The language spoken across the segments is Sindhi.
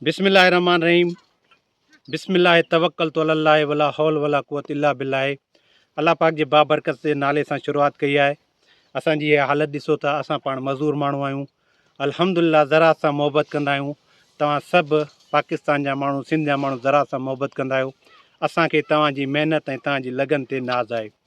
بسم الله الرحمن الرحيم بسم الله توکلت علی الله ولا حول ولا قوت الا بالله الله پاڪ جي بابرڪت جي نالي سان شروعات ڪئي آهي اسان جي هي حالت ڏسو ته اسان پاڻ مزور ماڻهو آهيون الحمدلله زراعت سان محبت ڪندا آهيون توهان سڀ پاڪستان جا ماڻهو سنڌ جا ماڻهو زراعت سان محبت ڪندا آهيو اسان کي توهان جي محنت ۽ توهان جي لگن تي ناز آهي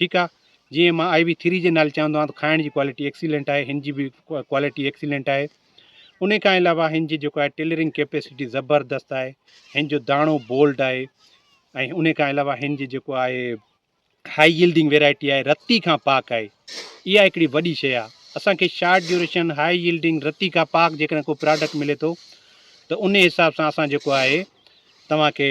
ٺيڪ آ جيئن مان آئي وي ٿري جي نالي چوندو آهيان ته کائڻ جي ڪوالٽي ايڪسيلنٽ آهي هن جي به ڪوالٽي ايڪسيلنٽ آهي ان کان علاوه هن جي جيڪو آهي ٽيلرنگ ڪيپيسٽي زبردست آهي هن جو داڻو بولڊ آهي ۽ ان کان علاوه هن جي جيڪو آهي هاء يلڊنگ ويرائٽي آهي رتي کان پاڪ آهي اها هڪڙي وڏي شيء آهي اسانکي شارٽ ڊيوريشن هاء يلڊنگ رتي کان پاڪ جيڪڏهن ڪو پراڊڪٽ ملي ٿو ته ان حساب سان اسان جيڪو آهي توهان کي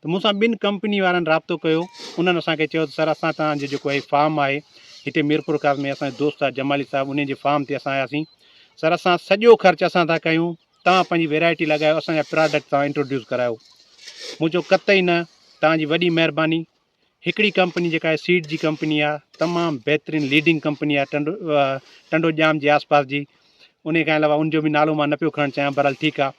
ته مون سان ٻن ڪمپني وارن رابطو ڪيو انهن اسان کي چيو ته سر اسان تان جو جيڪو هي فارم آهي هتي ميرپور خاص ۾ اسان جو دوست آهي جمالي صاحب انهن جي فارم تي اسان آياسين سر اسان سڄو خرچ اسان ٿا ڪيون تان پنهنجي ويرائٽي لڳايو اسان جا پراڊڪٽ تان انٽروڊيوس ڪرايو مون چيو قطعي نه تان جي وڏي مهرباني هڪڙي ڪمپني جيڪا آهي سيڊ جي ڪمپني آهي تمام بهترين ليڊنگ ڪمپني آهي ٽنڊو ٽنڊو ڄام جي آس پاس جي ان کان علاوه ان جو بي نالو مان نه پيو کڻڻ چاهيان بهرحال ٺيڪ آهي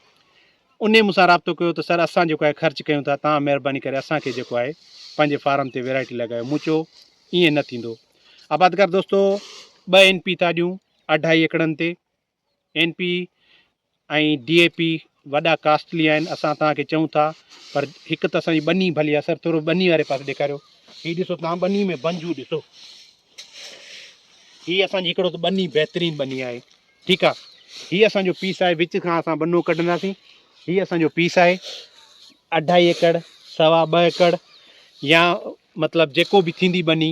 اني مون سان رابطو ڪيو ته سر اسان جيڪو آهي خرچ ڪيون ٿا تان مهرباني ڪري اسان کي جيڪو آهي پنهنجي فارم تي ويرائٽي لڳايو مون چيو ائين نه ٿيندو آبادگار دوستو ٻه اين پي ٿا ڏيون اڍائي ايڪڙن تي N P ۽ D A P وڏا ڪاسٽلي آهن اسان توهان کي چئون ٿا پر هڪ ته اسان جي ٻني ڀلي آهي سر ٿورو ٻني واري پاسي ڏيکاريو هي ڏسو توهان ٻني ۾ بنجو ڏسو هي اسان جي هڪڙو ته ٻني بهترين ٻني آهي ٺيڪ آهي هي اسان جو پيس آهي وچ کان اسان ٻنو ڪڍنداسين هي اسان جو پيس آهي اڍائي ايڪڙ سوا ٻه ايڪڙ يا مطلب جيڪو به ٿيندي ٻني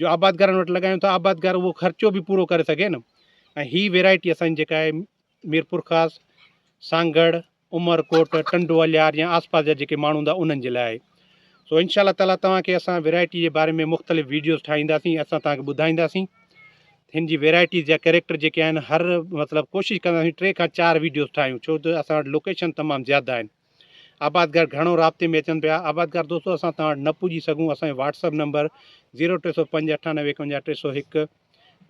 جو آبادگارن وٽ لڳايون ته آبادگار اهو خرچو به پورو ڪري سگهي نه ۽ هي ويرائٽي اسانجي جيڪا آهي ميرپورخاص سانگهڙ عمرڪوٽ ٽنڊو الهيار يا آس پاس جا جيڪي ماڻهو هوندا انهن جي لاء آهي سو انشاء الله تعالیٰ توهان کي اسان ويرائٽي جي باري ۾ مختلف ويڊيوز ٺاهينداسين اسان توهان کي ٻڌائينداسين هن جي ويرائٽيز جا ڪيريڪٽر جيڪي آهن هر مطلب ڪوشش ڪنداسين ٽي کان چار ويڊيوز ٺاهيون ڇو ته اسان وٽ لوڪيشن تمام زياده آهن آبادگار گهڻو رابطي ۾ اچن پيا. آبادگار دوستو اسان توهان وٽ نه پڄي سگهون اسان جو واٽس اپ نمبر زيرو ٽي سؤ پنج اٺا نوي ايڪونجاهه ٽي سؤ هڪ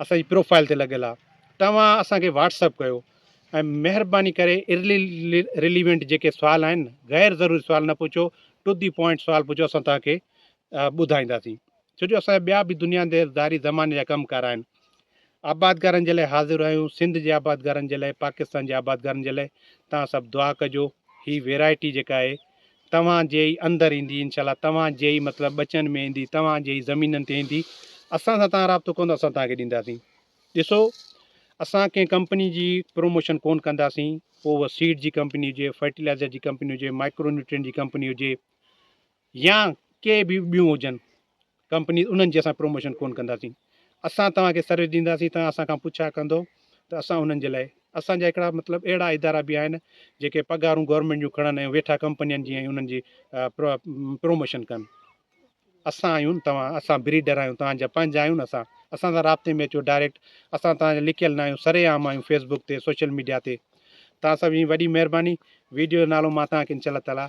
اسان جي پروفائل تي لڳل آ توهان اسان کي واٽس اپ ڪيو ۽ مهرباني ڪري ارلي ريليونٽ جيڪي سوال آهن غير ضروري سوال نه پڇو ٽو دي پوائنٽ سوال پڇو اسان توهان کي ٻڌائينداسين. ڇو جو اسان جا ٻيا به دنيا دير ڌاري زماني جا ڪم ڪار آهن. آبادگارن جي لاء حاضر آهيون سنڌ جي آبادگارن جي لاء پاڪستان جي آبادگارن جي لاء توهان سڀ دعا ڪجو هي ويرائٽي جيڪا آهي توهان جي ئي اندر ايندي انشاء الله توهان جي ئي مطلب ٻچن ۾ ايندي توهان جي ئي زمينن تي ايندي اسان سان توهان رابطو ڪندو اسان توهان کي ڏينداسين ڏسو اسان ڪنهن ڪمپني جي پروموشن ڪون ڪنداسين پوء اها سيڊ جي ڪمپني هجي فرٽيلائزر جي ڪمپني هجي مائڪرو نيوٽرين جي ڪمپني هجي يا ڪي به ٻيون هجن ڪمپنيز انهن جي اسان پروموشن ڪونه ڪنداسين اسان توهان کي سروس ڏينداسين توهان اسان کان پڇا ڪندو ته اسان انهن جي لاء اسان جا هڪڙا مطلب اهڙا ادارا به آهن جيڪي پگهارون گورنمينٽ جون کڻن ۽ ويٺا ڪمپنين جي ۽ انهن جي پروموشن ڪن اسان آهيون توهان اسان بريڊر آهيون توهان جا پنهنجا آهيون نه اسان اسان سان رابطي ۾ اچو ڊائريڪٽ اسان توهان جا لڪيل نه آهيون سري عام آهيون فيسبوڪ تي سوشل ميڊيا تي توهان سڀ جي وڏي مهرباني ويڊيو جو نالو مان توهان کي انشاء الله تعالٰي